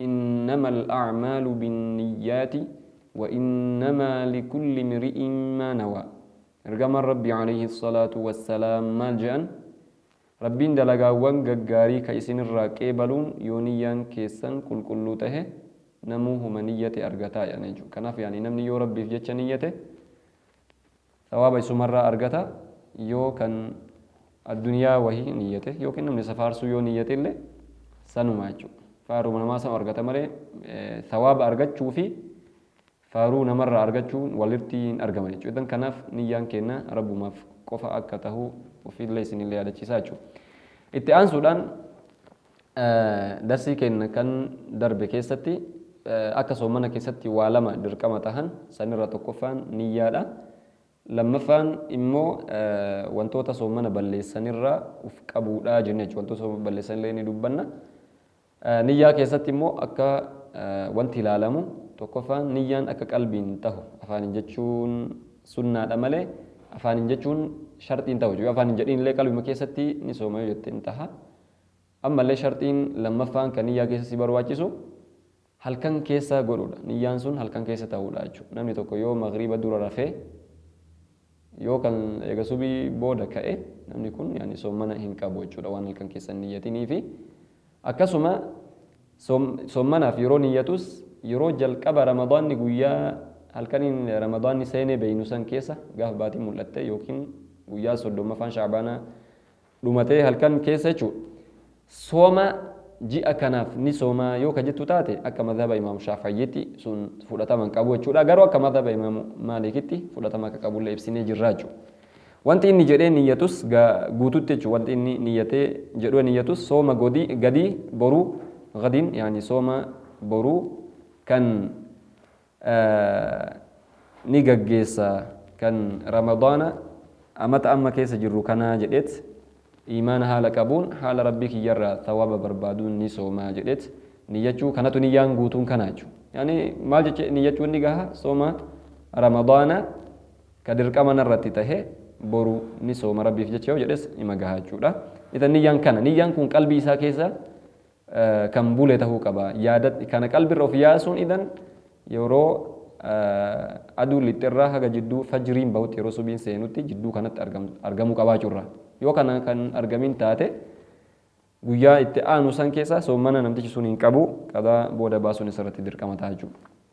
Innama al'aamaalu binniyyaati wa innamaa likulli imri'in maa nawaa Ergamaan Rabbii aleyhi salaatu wassalaam maal je'an? Rabbiin dalagaawwan gaggaarii ka isin irraa qeebaluun yoo niyyaan keessan qulqulluu tahe namuu homa niyyate argataa je'an jechuudha. Kanaaf yaani namni yoo Rabbiif jecha niyyate, Sawaaba isumarraa argata yoo kan addunyaa wahii niyyate yookiin namni isa faarsuu yoo niyyate illee sanumaa jechuudha. Faaruma namaa sanu argata malee sawaaba argachuu fi faaruu namarraa argachuun walirti hin argaman jechuudha. Idan kanaaf niyyaan keenna Rabbumaaf qofa akka tahu ofiillee isinillee yaadachiisaa jechuudha. Itti aansuudhaan Darsii keenna kan darbe keessatti akka soomana keessatti waa lama dirqama tahan san irraa tokkoffaan niyyaadha. Lammaffaan immoo wantoota soomana balleessan irraa uf qabuudha jenna jechuudha. Wantoota soomana balleessan illee ni dubbanna. Niyyaa keessatti immoo akka wanti ilaalamu tokkoffaan niyyaan akka qalbiin tahu afaaniin jechuun sunnaadha malee afaaniin jechuun sharxiin tahu jechuudha. Afaaniin jedhiin illee qalbima keessatti ni sooma yoo jette hin taha. Ammallee sharxiin lammaffaan kan niyyaa keessa si barbaachisu halkan keessa godhuudha. Niyyaan sun halkan keessa ta'uudha jechuudha. Namni tokko yoo magriiba dura rafee yoo kan eega subii booda ka'e namni kun yaani soommana hin qabu jechuudha waan halkan keessa hin niyyatiniifi. Akkasuma soommanaaf yeroo niyyatus yeroo jalqaba ramadaanni guyyaa halkaniin ramadaanni seenee beeynu san keessa gaafa baatiin mul'atte yookiin guyyaa soddommaffaan shaabaanaa dhumatee halkan keessa jechuudha. Sooma ji'a kanaaf ni sooma yoo ka jettu taate akka madhaba Imaam Shaafayyiitti sun fudhatama hin qabu jechuudha. Garuu akka madhaba Imaam Maalikitti fudhatama akka qabullee ibsinee jirra jechuudha. Wanti inni jedhee niyyatus guututti jechuudha. Wanti inni niyyatee jedhee niyyatus sooma godii gadii boruu gadiin yaani sooma boruu kan ni gaggeessa kan ramadaana amata amma keessa jirru kanaa jedheet iimaana haala qabuun haala rabbii kiyyarraa thawaaba barbaaduun ni soomaa jedheet niyyachuu kanatu niyyaan guutuun kanaa jechuu yani maal jecha niyyachuun ni gaha sooma ramadaana ka dirqama narratti tahe boru ni sooma rabbiif jecha yoo jedhes ima gaha jechuudha itan niyyaan kana niyyaan kun qalbii isaa keessa kan bule tahuu qaba. Yaadadh kana qalbirra of yaasuun idan yeroo aduun lixxe irraa haga jidduu fajriin bahutti yeroo subiin seenutti jidduu kanatti argamuu qabaachuu irraa. Yoo kana kan hin argamin taate guyyaa itti aanu san keessa soommana namtichi sun hin qabu qadaa booda baasuun isarratti dirqama taha jechuudha.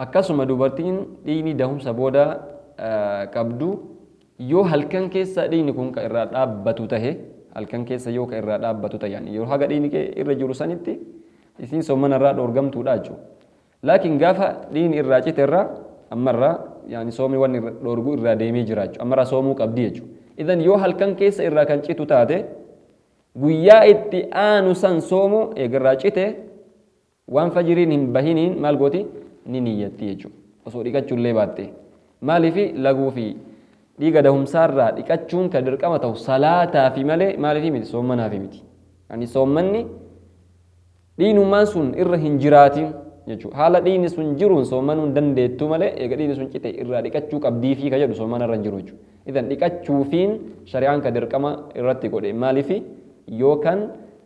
Akkasuma dubartiin dhiigni dahumsa booda qabdu yoo halkan keessa dhiigni kun ka irraa dhaabbatu tahe halkan keessa yoo ka irraa dhaabbatu tahe yani yeroo haga dhiigni kee irra jiru sanitti isiin soomana irraa dhoorgamtuudha jechu laakin gaafa dhiigni irraa cite irraa amma irraa yani soomni wanni dhoorgu irraa deemee jira jechu amma irraa soomuu qabdi jechu idan yoo halkan keessa irraa kan citu taate guyyaa itti aanu san soomu eegarraa cite Waan fajriin hin bahiniin maal gooti? Ni niyyatti jechuudha. Osoo dhiqachuu illee baattee. Maaliifi? Laguu fi dhiiga dahumsaa irraa dhiqachuun ka dirqama tahu salaataafi malee maaliifi miti? Soommanaafi miti. Ani soommanni dhiinummaan sun irra hin jiraatin jechuudha. Haala dhiini sun jiruun soommanuu hin dandeettu malee eega dhiini sun cite irraa dhiqachuu qabdiifi ka jedhu soommana irra hin jiru jechuudha. Idan dhiqachuufiin shari'aan ka dirqama irratti godhe maaliifi? Yoo kan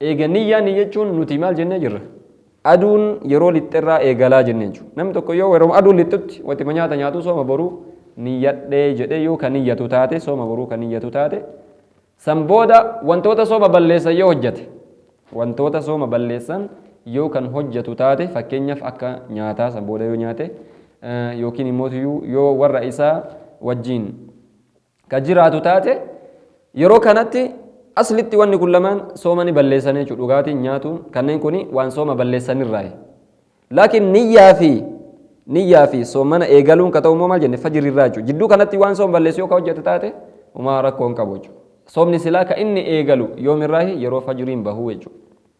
Eega niyyaa niyyachuun nuti maal jennee jirra? Aduun yeroo lixxerraa eegalaa jennee jechuudha. Namni tokko yoo yeroma aduun lixxutti watima nyaata nyaatuu sooma boruu niyyadhe jedhee yoo ka niyyatu taate sooma boruu ka niyyatu taate san booda wantoota sooma balleessan yoo hojjate wantoota sooma balleessan yoo kan hojjatu taate fakkeenyaaf akka nyaataa san booda yoo nyaate yookiin immoo yoo warra isaa wajjiin ka jiraatu taate, yeroo kanatti aslitti wanni kun lamaan sooma ni balleessan jechuudha. Dhugaatiin, nyaatuun kanneen kuni waan sooma balleessan irraayi. Laakiin niyyaa fi niyyaa fi soomana eegaluun ka ta'u immoo maal jenne fajri irraa jechuudha. Jidduu kanatti waan sooma balleessu yoo ka hojjete taate umaa rakkoo hin qabu jechuudha. Soomni silaa ka inni eegalu yoom irraahi yeroo fajriin bahuu jechuudha.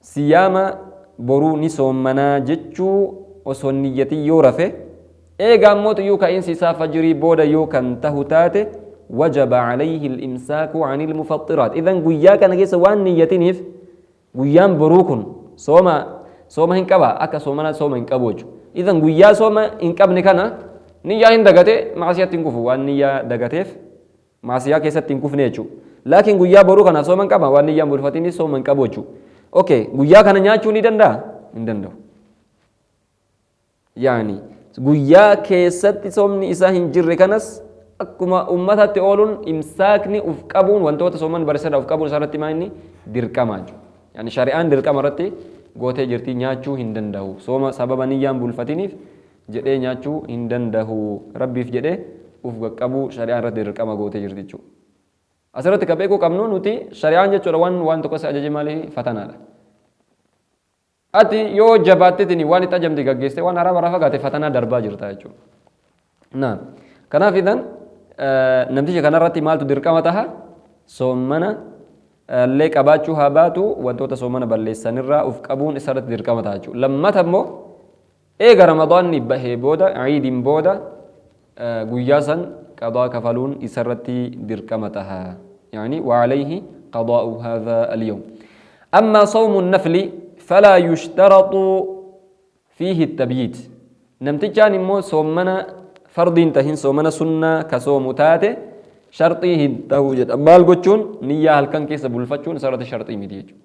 Siyaama boruu ni soommana jechuu osoo hin niyyatin yoo rafe, eega ammoo tuyuu ka'iinsi isaa fajrii booda yoo kan tahu taate, wajaba alayhi al-imsaaku an al-mufaxxiraat. Idhan guyyaa kana keessa waan hin niyyatiniif guyyaan boruu kun sooma sooma hin qabaa? Akka soomanaatti sooma hin qabu jechu. Idhan guyyaa sooma hin qabne kana niyyaa hin dagate, ma'asiyatti hin kufu waan niyyaa dagateef. maasiyaa keessatti hin kufne jechu laakiin guyyaa boruu kana sooma hin qaba waan niyyaan bulfatiinis sooma hin qabu jechu okay guyyaa kana nyaachuu ni danda'a hin danda'u yaani guyyaa keessatti soomni isaa hin jirre kanas akkuma ummataatti ooluun imsaakni uf qabuun wantoota sooman barsiisadha uf qabuun isaarratti maa inni dirqama jechuudha. Yani shari'aan dirqama irratti gootee jirti nyaachuu hin danda'u. Sooma sababa niyyaan bulfatiniif jedhee nyaachuu hin dandahu. Rabbiif jedhee uf qaqqabuu shari'aan irratti dirqama gootee jirti jechuudha. Asirratti ka beekuu qabnu nuti shari'aan jechuudha waan waan tokko si ajaje maali fatanaadha. Ati yoo jabaattetini waan itti ajamte gaggeessite waan haraama irraa fagaate fatanaa darbaa jirta jechuudha. Naam. Kanaaf idan namticha kanarratti maaltu dirqama taha soommana illee qabaachuu haa baatu wantoota soommana balleessanirraa uf qabuun isarratti dirqama taha jechuudha. Lammata immoo Eega Ramadaanni bahee booda, Iidin booda, guyyaa san qadaa kafaluun isarratti dirqama taha. Ya'anii, wa alayhi qadaa'u haadha al-yawm. Ammaa sawmu an-nafli falaa yushtaratu fiihi at-tabyiit. Namtichaan immoo soommana fardii hin tahin, soomana sunnaa ka soomu taate sharxii hin tahu jedha. Maal gochuun? Niyyaa halkan keessa bulfachuun isarratti sharxii miti jechuudha.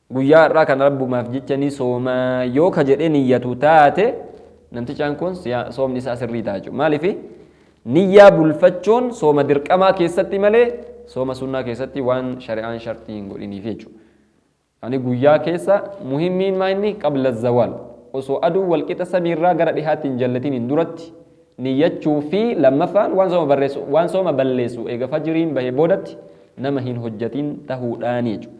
Guyyaa har'aa kana Rabbumaaf jecha ni sooma yoo ka jedhee niyyatu taate namtichaan kun siyaa- soomni isaa sirrii ta'a jechuudha. Maaliifi? Niyyaa bulfachuun sooma dirqamaa keessatti malee sooma sunnaa keessatti waan shari'aan sharxii hin godhiniif jechuudha. Ani guyyaa keessa muhimmiin maa inni qabla zawaal osoo aduu walqixa samiirraa gara dhihaatti hin jallatiniin duratti niyyachuu fi lammaffaan waan sooma barreessu waan sooma balleessu eega fajriin bahee boodatti nama hin hojjatin tahuudhaani jechuudha.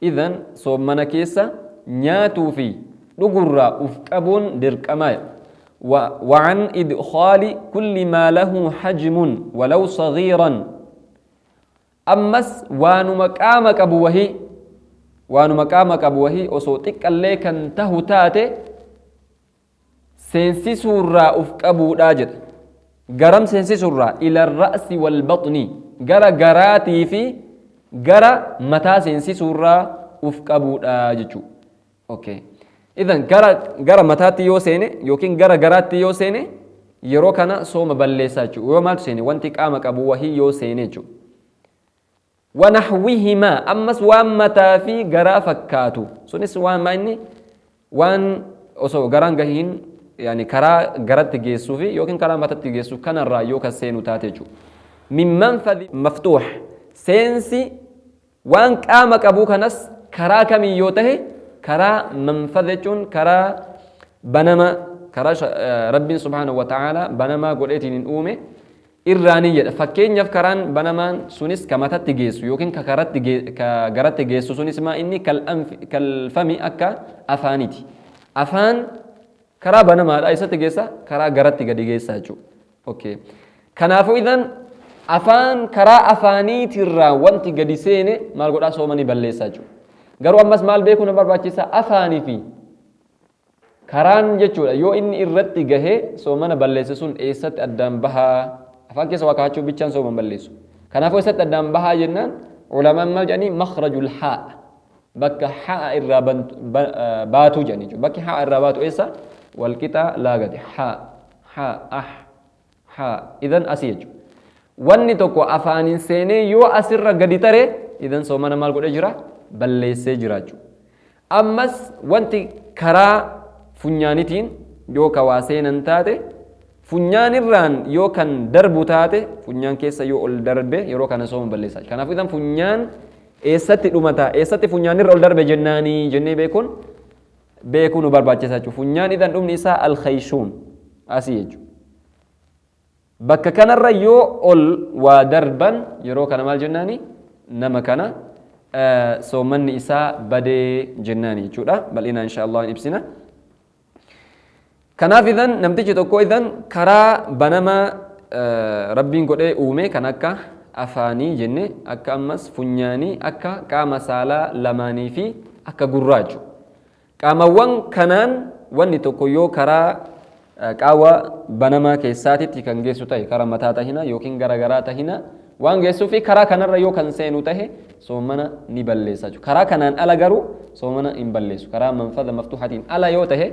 Idhan, soommana keessa nyaatuu fi dhugurraa uf qabuun dirqama. Wa, wa an idkhaali kulli maa lahu hajmun walaw saghiiran. Ammas waanuma qaama qabu wahii, waanuma qaama qabu wahii osoo xiqqallee kan tahu taate, seensisuurraa uf qabuudha jedha. Garam seensisuurraa? Ila ra'si wal baxni. Gara garaatii fi gara mataa seensisuurraa uf qabuudha jechuu. Okay. Idan gara gara mataatti yoo seene yookiin gara garaatti yoo seene yeroo kana sooma balleessaa jechuudha. Yoo maaltu seene wanti qaama qabu wahii yoo seene jechuudha. wanahwihimaa ammas waan mataa fi garaa fakkaatu sunis waan maa inni waan osoo garaan gahiin yani karaa garatti geessuu fi yookiin karaa matatti geessu kanarraa yoo kan seenu taate jechuudha. Min manfadhi maftuux seensi waan qaama qabuu kanas karaa kamiin yoo tahe karaa manfadha jechuun karaa banama karaa rabbiin subhaanahu wa ta'aalaa banamaa godheetiin hin uume irraa ni jedha. Fakkeenyaf karaan banamaan sunis ka matatti geessu yookiin ka karatti ge ka garatti geessu sunis maa inni kal anfi kal fami akka afaaniti. Afaan karaa banamaadha eessatti geessa karaa garatti gadi geessa jechuu. ok. Kanaafu idhan afaan karaa afaaniitirraa wanti gadi seene maal godhaa sooma ni balleessa jechuu. Garuu ammas maal beekuu na barbaachisa afaanifi Karaan jechuudha yoo inni irratti gahe soomana balleesse sun eessatti addaan bahaa? Afaan keessa waa kaa'achuu bichaan sooma hin balleessu. Kanaafuu eessatti addaan bahaa jennaan ulamaan maal jedhanii makhrajul haa'a bakka haa'a irraa baatu jedhanii jechuudha. Bakki haa'a irraa baatu eessa? Walqixa laagati haa haa ah haa idan asi jechu wanni tokko afaanin seenee yoo asirra gadi tare idan soomana maal godhe jira balleessee jiraachu ammas wanti karaa funyaanitiin yoo ka waa seenan taate funyaanirraan yoo kan darbu taate funyaan keessa yoo ol darbe yeroo kana sooma balleessaa kanaaf idan funyaan eessatti dhumata eessatti funyaanirra ol darbe jennaanii jennee beekuun beekuu nu barbaachisa jechuudha. Funyaan idhan dhumni isaa al-khayshuum asii jechuudha. Bakka kanarra yoo ol waa darban yeroo kana maal jennaani nama kana soomanni isaa badee jennaani jechuudha. Bal'inaan insha Allah hin ibsina. Kanaaf idhan namtichi tokko idhan karaa banamaa Rabbiin godhee uume kan akka afaanii jenne akka ammas funyaanii akka qaama saalaa lamaanii fi akka gurraa jechu. Qaamawwan kanaan wanni tokko yoo karaa qaawa banamaa keessaatitti kan geessu tahe kara mataa tahina yookiin gara garaa tahina waan geessuu fi karaa kanarra yoo kan seenu tahe soomana ni balleessa jechu. Karaa kanaan ala garuu soomana hin balleessu. Karaa manfada maftuhatiin ala yoo tahe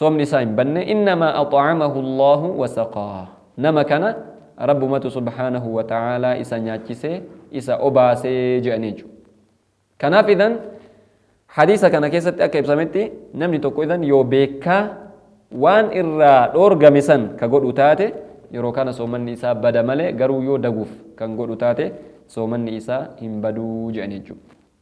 soomni isaa hin banne innamaa ax'amahu Allaahu wa saqaah nama kana Rabbumatu subhaanahu wa ta'aalaa isa nyaachise isa obaase je'anii jechuudha kanaaf idhan hadiisa kana keessatti akka ibsametti namni tokko idhan yoo beekkaa waan irraa dhoorgame san ka godhu taate yeroo kana soomanni isaa bada malee garuu yoo daguuf kan godhu taate soomanni isaa hin baduu je'anii jechuudha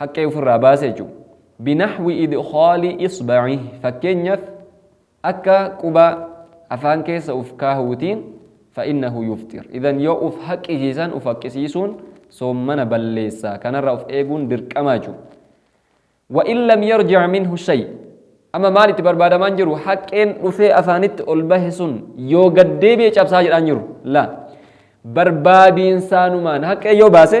haqqee ufirraa baasa jechuudha. Binahwi idkhaali isbaci fakkeenyaf akka quba afaan keessa uf kaahuutiin fa'innahu yufxir idhan yoo uf haqqisiisan uf haqqisiisuun soommana balleessa kanarraa uf eeguun dirqama jechuudha. Wa in lam yarjic minhu shay amma maal itti barbaadamaan jiru haqqeen dhufee afaanitti ol bahe sun yoo gad deebi'e cabsaa jedhaan jiru la barbaadiinsaanumaan haqqee yoo baase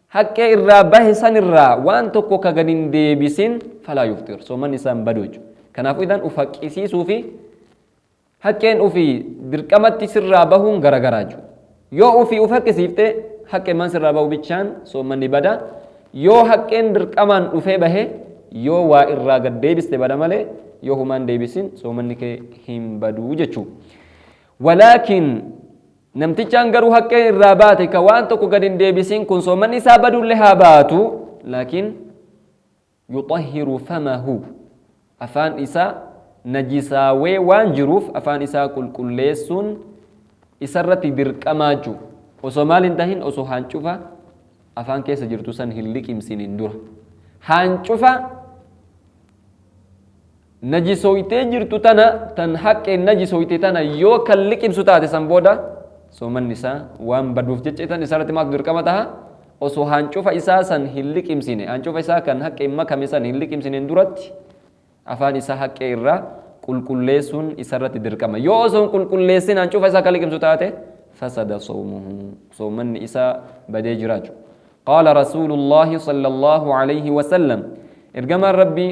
haqqee irraa bahe san irraa waan tokko ka gad hin deebisin falaa yufxir soomanni isaa hin badu jechuudha kanaafuu idan uf haqqisiisuu fi haqqeen ufii dirqamatti sirraa bahuun garagaraa jechuudha yoo ufii uf haqqisiifte haqqee man sirraa bahu bichaan soomanni bada yoo haqqeen dirqamaan dhufee bahe yoo waa irraa gad deebiste bada malee yoo humaan deebisin soomanni kee hin baduu jechuudha walaakin Namtichaan garuu haqqeen irraa baate ka waan tokko gad hin deebisin kun soomanni isaa badulle haa baatu laakiin yuxahhiru famahu afaan isaa najisaawee waan jiruuf afaan isaa qulqulleessuun isarratti dirqamaa juu osoo maal hin tahin osoo haancufa afaan keessa jirtu san hin liqimsinin dura haancufa Najisoytee jirtu tana tan haqqeen najisoyte tana yoo kan liqimsu taate san booda soomanni isaa waan baduuf jecha tan isarratti maaltu dirqama taha osoo haancufa isaa san hin liqimsine haancufa isaa kan haqqeen makame san hin liqimsineen duratti afaan isaa haqqee irraa qulqulleessuun isarratti dirqama yoo osoo hin qulqulleessin haancufa isaa kan liqimsu taate fasada soomuhu soomanni isaa badee jiraachu qaala rasuulullaahi sallallahu alayhi wasallam ergamaan rabbii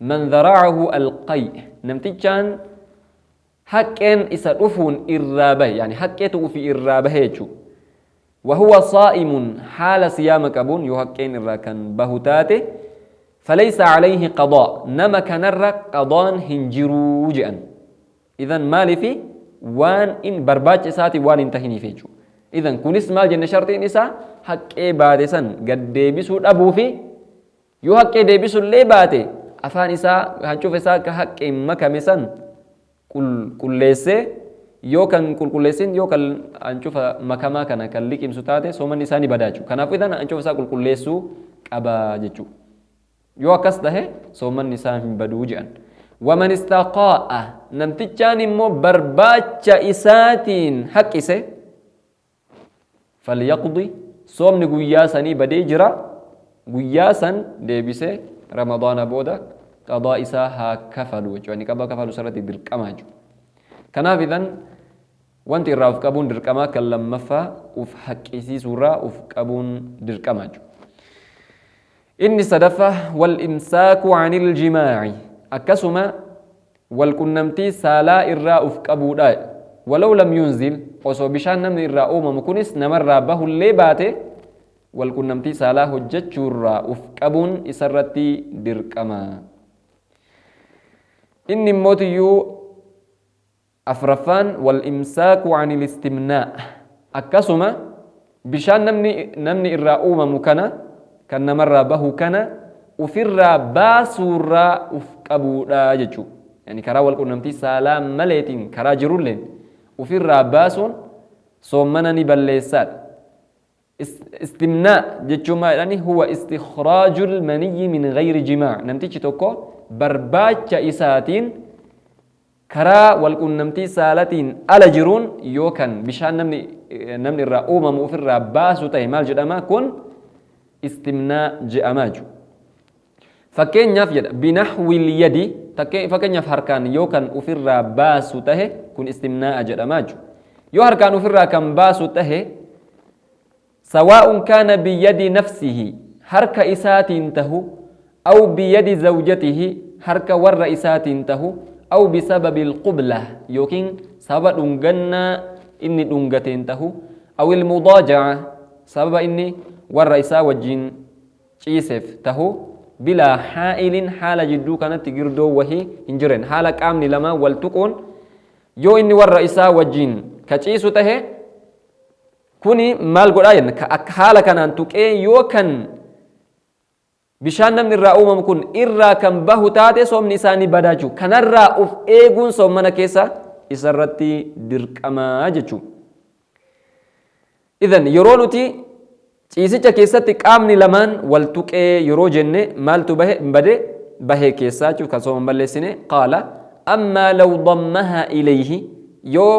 Man zara'ahu alqay namtichaan haqqeen isa dhufuun irraa bahe yani haqqeetu ufi irraa bahe jechu wa huwa saa'imun haala siyaama qabuun yoo haqqeen irraa kan bahu taate falaysa alayhi qadaa nama kanarra qadaan hin jiruu je'an idan maalifi waan in barbaacha isaati waan hin tahiniif jechu idan kunis maal jenne sharxiin isaa haqqee baate san gad deebisuu dhabuu fi Yoo haqqee deebisu illee baate afaan isaa hancufa isaa ka haqqeen makame san qul, qulleessee yoo kan qulqulleessin yoo kan hancufa makamaa kana kan liqimsu taate soomanni isaa ni bada jechuudha. Kanaafuu idan hancufa isaa qulqulleessuu qaba jechuudha. Yoo akkas tahe soomanni isaa hin baduu jedhan. Waman istaqaa'a namtichaan immoo barbaacha isaatiin haqqise falyaqdi soomni guyyaa sanii badee jira guyyaa san deebise ramadaana booda qadaa isaa haa kafalu jechuudha inni qaba kafalu sarratti dirqamaa jechuudha kanaaf idan wanti irraa of qabuun dirqamaa kan lammaffaa uf haqqisiisuurraa uf qabuun dirqamaa jechuudha inni sadaffaa wal imsaaku anil jimaa'i akkasuma Wal qunnamtii saalaa irraa uf qabuudha. Walaw lam yunzil, osoo bishaan namni irraa uumamu kunis namarraa bahullee baate wal qunnamtii saalaa hojjachuurraa uf qabuun isarratti dirqama. Inni immoo tiyyuu afraffaan wal imsaaku anil istimnaa, akkasuma Bishaan namni namni irraa uumamu kana, kan namarraa bahu kana, ufirraa baasuurraa uf qabuudha jechuu. Yani karaa wal qunnamtii saalaa maleetiin karaa jirulleen ufirraa baasuun soommana ni balleessaadha. Is, istimnaa jechuun maal jedhani? Huwa istikhraajul maniyyi min ghayri jimaa. Namtichi tokko barbaacha isaatiin Karaa walquunnamtii saalatiin ala jiruun yoo kan bishaan namni namni irraa uumamu ufirraa baasu tahe maal jedhama? Kun istimnaa je'ama jechu. Fakkeenyaaf jedha binahwil yadi takke fakkeenyaaf harkaan yoo kan ufirraa baasu tahe kun istimnaa'a jedhama jechu. Yoo harkaan ufirraa kan baasu tahe Sawaa'un kaana biyadi nafsihi, harka isaatiin tahu, aw biyadi zawjatihi, harka warra isaatiin tahu, aw bisababil qublah, ykn sababa dhungannaa inni dhungateen tahu, awil mudaaja'ah, sababa inni warra isaa wajjiin ciisef tahu, bilaa haa'ilin haala jidduu kanatti girdoon wahii hin jiren, haala qaamni lamaan wal tuquun, yoo inni warra isaa wajjiin ka ciisu tahe, Kuni maal godhaa jenna? Ka akka haala kanaan tuqee yoo kan bishaan namni irraa uumamu kun irraa kan bahu taate soomni isaa ni badaa jechuudha. Kanarraa uf eeguun soommana keessa isarratti dirqamaa jechuudha. Idan yeroo nuti ciisicha keessatti qaamni lamaan wal tuqee yeroo jenne maaltu bahe bade bahee keessaa jechuudha kan sooma balleessine qaala ammaa law dammahaa ilayhi yoo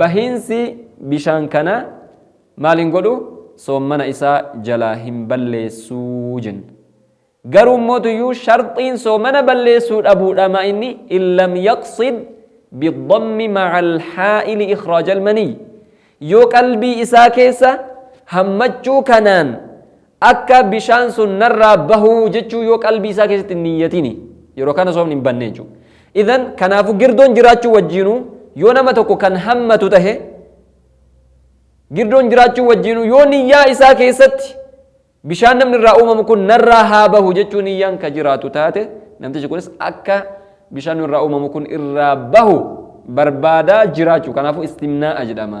Bahiinsi bishaan kanaa maal hin godhu? Soommana isaa jalaa hin balleessu jenna. Garuu immoo tuyyuu sharxiin soomana balleessuu dhabuudha maa inni in lam yaqsid bidhammi maca alhaa'ili ikhraaja almaniyyi yoo qalbii isaa keessa hammachuu kanaan Akka bishaan sun narraa bahu jechuu yoo qalbii isaa keessatti hin niyyatini. Yeroo kana soomni hin banne jechuudha. Idhan kanaafu girdoon jiraachuu wajjiinuu yoo nama tokko kan hammatu tahe girdoon jiraachuu wajjiinuu yoo niyyaa isaa keessatti bishaan namni irraa uumamu kun narraa haa bahu jechuu niyyaan ka jiraatu taate namtichi kunis akka bishaan irraa uumamu kun irraa bahu barbaadaa jiraachuu kanaafu istimnaa'a jedhama.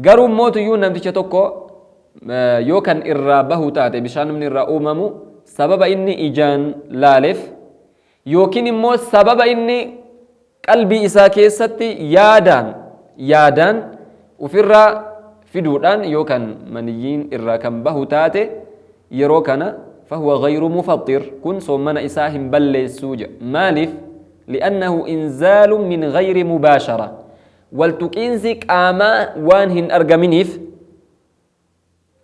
Garuu immoo tuyyuun namticha tokko yoo kan irraa bahu taate bishaanumni irraa uumamu sababa inni ijaan laaleef yookiin immoo sababa inni qalbii isaa keessatti yaadaan yaadaan ufirraa fiduudhaan yoo kan maniyyiin irraa kan bahu taate yeroo kana fahuwa gayru mufaxxir kun soommana isaa hin balleessuu jedha maaliif li'annahu inzaalun min gayri mubaashara Waltuqiinsi qaamaa waan hin argaminiif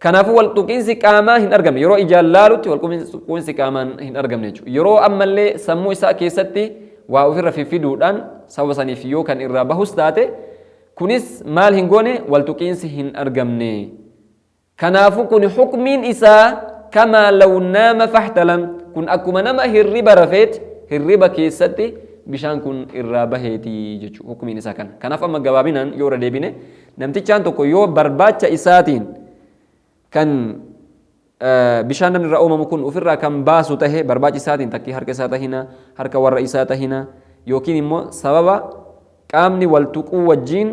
Kanaafuu waltuqiinsi qaamaa hin argamne yeroo ijaan laalutti walquuinsi qaamaan hin argamne jechuudha. Yeroo ammallee sammuu isaa keessatti waa ofirra fiffiduudhaan sababa saniif yoo kan irraa bahus taate kunis maal hin goone waltuqiinsi hin argamne Kanaafu kuni hukmiin isaa kamaa law naama fahtalam kun akkuma nama hirriba rafeet hirriba keessatti bishaan kun irraa baheeti jechu hukmiin isaa kana. Kanaaf amma gabaabinaan yoo irra deebine namtichaan tokko yoo barbaacha isaatiin kan bishaan namni irraa uumamu kun ofirraa kan baasu tahe barbaachi isaatiin takkii harka isaa tahina harka warra isaa tahina yookiin immoo sababa Qaamni wal tuquu wajjiin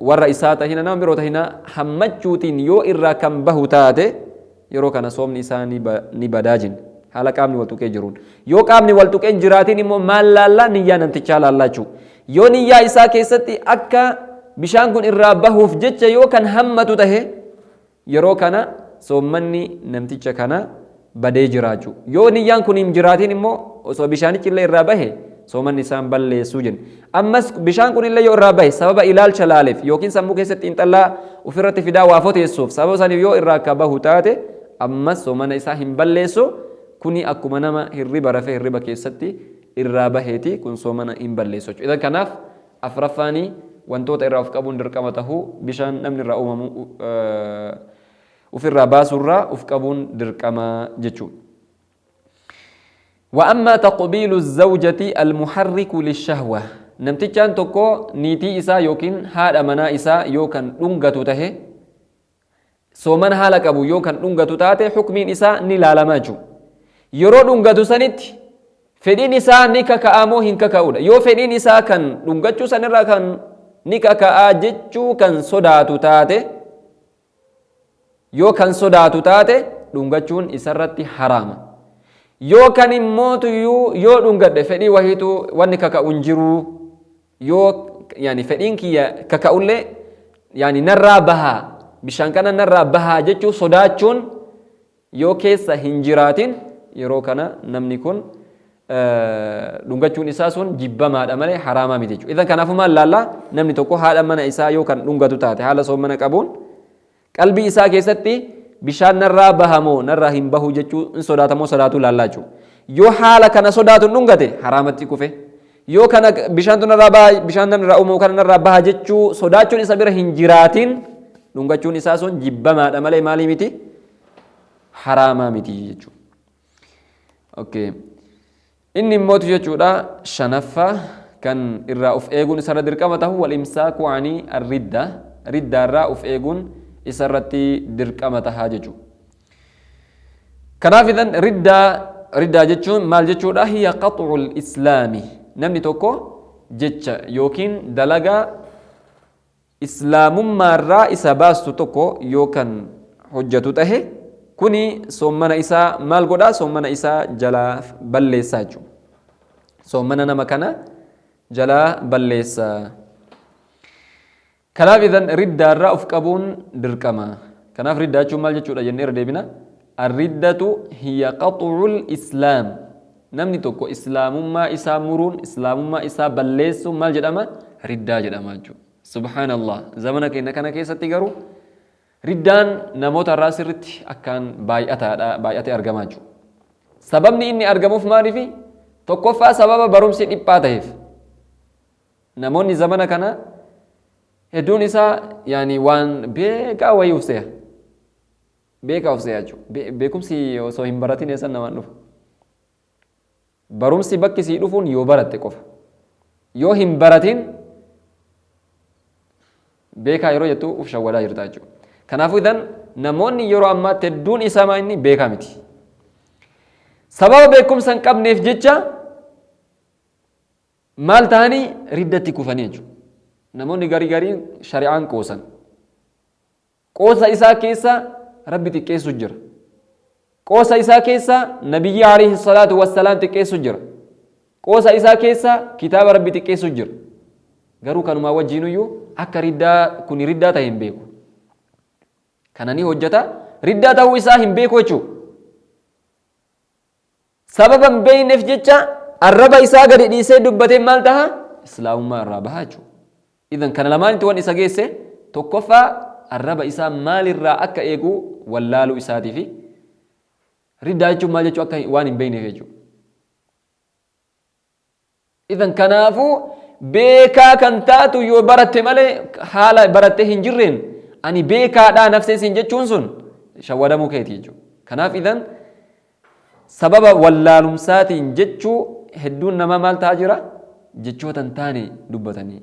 warra isaa tahina nama biroo tahina hammachuutiin yoo irraa kan bahu taate yeroo kana soomni isaa ni badaa jin haala qaamni wal tuqee jiruun yoo qaamni wal tuqeen jiraatiin immoo maal laallaa niyyaa namtichaa laallaa jechuu yoo niyyaa isaa keessatti akka bishaan kun irraa bahuuf jecha yoo kan hammatu tahe Yeroo kana soommanni namticha kana badee jiraachu. Yoo niyyaan kun hin jiraatiin immoo osoo bishaanichi illee irraa bahe soomanni isaa hin balleessu jenne. Ammas bishaan kun illee yoo irraa bahe sababa ilaalcha laaleef yookiin sammuu keessatti xiinxallaa ofirratti fidaa waa foteessuuf sababa saniif yoo irraa akka bahu taate ammas soomana isaa hin balleessu kuni akkuma nama hirriba rafee hirriba keessatti irraa baheeti kun soomana hin balleessu jechuudha. Idan kanaaf Afraffaani, wantoota irraa of qabuun dirqama tahu, bishaan namni irraa uumamu ufirraa baasuu irraa uf qabuun dirqama jechuu. Wa ammaa taqbiilu zawjati almuharriku lishahwa, namtichaan tokko niitii isaa yookiin haadha manaa isaa yoo kan dhungatu tahe, Soomana haala qabu yoo kan dhungatu taate hukmiin isaa ni laalama jechuudha. Yeroo dhungatu sanitti fedhiin isaa ni kaka'a moo hin kaka'udha. Yoo fedhiin isaa kan dhungachuu sanirraa kan ni kaka'a jechuu kan sodaatu taate yoo kan sodaatu taate dhungachuun isarratti haraama. Yoo kan immootu yoo dhungadhe fedhii wahiitu wanni kaka'u hin jiruu. yoo yani fedhiin kiyya kaka'ullee yani narraa bahaa bishaan kana narraa bahaa jechuu sodaachuun yoo keessa hin jiraatin yeroo kana namni kun dhungachuun isaa sun jibbamaadha malee haraamaa miti jechuudha. Idan kanaafuu maal laallaa namni tokko haadha mana isaa yoo kan dhungatu taate haala soommana qabuun Qalbii isaa keessatti bishaan narraa baha moo narraa hin bahu jechuu hin sodaata moo sodaatuu laallaa jechuu. Yoo haala kana sodaatu hin dhungate haraamatti kufe. Yoo kana bishaantu narraa baha bishaan nan irraa uumamu kana narraa baha jechuu sodaachuun isa bira hin jiraatiin dhungachuun isaa sun jibbamaadha malee maalii miti haraamaa miti jechuudha. Okay. Inni immoo tu jechuudha shanaffa kan irraa uf eeguun isarra dirqama tahu wal-imsaaku ani ar-ridda riddaarraa uf eeguun isa irratti dirqama taha jechu. Kanaaf idhan riddaa riddaa jechuun maal jechuudha hiya qax'ul islaami namni tokko jecha yookiin dalagaa Islaamummaarraa isa baastu tokko yoo kan hojjatu tahe, kuni soommana isaa maal godha? Soommana isaa jalaa balleessa jechuudha. Soommana nama kana jalaa balleessa. Kanaaf idan riddaarraa of qabuun dirqama. Kanaaf riddaa jechuun maal jechuudha jennee irra deebina. Arriddatu hiya qaxu'ul islaam. Namni tokko islaamummaa isaa muruun, islaamummaa isaa balleessuun maal jedhama? Riddaa jedhama jechuudha. Subhaanallaah! Zamana keenya kana keessatti garuu riddaan namoota irraa sirritti akkaan baay'ataadha, baay'atee argama jechuudha. Sababni inni argamuuf maaliifi? Tokkoffaa sababa barumsi dhiphaa ta'eef. Namoonni zamana kana hedduun isaa yaani waan beekaa wayii uf se'a. Beekaa of se'achu. Beekumsi osoo hin baratin eessan namaan dhufa? Barumsi bakki sii dhufuun yoo baratte qofa. Yoo hin baratin beekaa yeroo jettu uf shawwadaa jirta jechuudha. Kanaafuu idan namoonni yeroo ammaatti hedduun isamaa inni beekaa miti. Sababa beekumsa hin qabneef jecha maal ta'anii riddatti kufanii jechuudha. Namoonni garii gariin shari'aan qoosan. Qoosa isaa keessa Rabbi xiqqeessu jira. Qoosa isaa keessa Nabiyyii alayhi salaatu wassalaam xiqqeessu jira. Qoosa isaa keessa kitaaba Rabbi xiqqeessu jira. Garuu kanumaa wajjiinuyyuu akka riddaa kuni riddaa ta'e hin beeku. Kana ni hojjata riddaa ta'uu isaa hin beeku jechuudha. sababa hin beekneef jecha arraba isaa gadi dhiisee dubbateen maal taha islaamummaa irraa baha jechuudha idan kana lamaanitti wan isa geesse tokkoffaa arraba isaa maalirraa akka eegu wallaaluu isaatii fi riddaa jechuun maal jechuu akka waan hin beekneef jechuudha Idan kanaafu beekaa kan taatu yoo baratte malee haala barattee hin jirreen ani beekaadhaa nafsee siin jechuun sun shawwadamuu keeti jechuudha. Kanaaf idan sababa wallaalumsaatiin jechuu hedduun namaa maal ta'aa jira? Jechoota hin taane dubbatanii.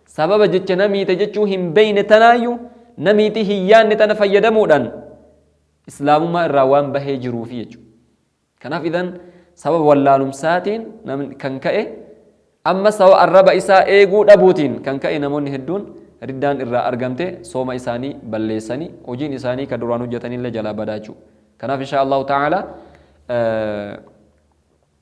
Sababa jecha namiite jechuu hin beeyne tanaayyu namiitii hin yaanne tana fayyadamuudhaan Islaamummaa irraa waan bahee jiruufi jechu. Kanaaf idhan sababa wallaalumsaatiin namni kan ka'e ammas sababa arraba isaa eeguu dhabuutiin kan ka'e namoonni hedduun riddaan irraa argamte sooma isaanii balleessani hojiin isaanii ka duraan hojjatanillee jalaa badaa jechuu. Kanaaf inshaa Allahu ta'aalaa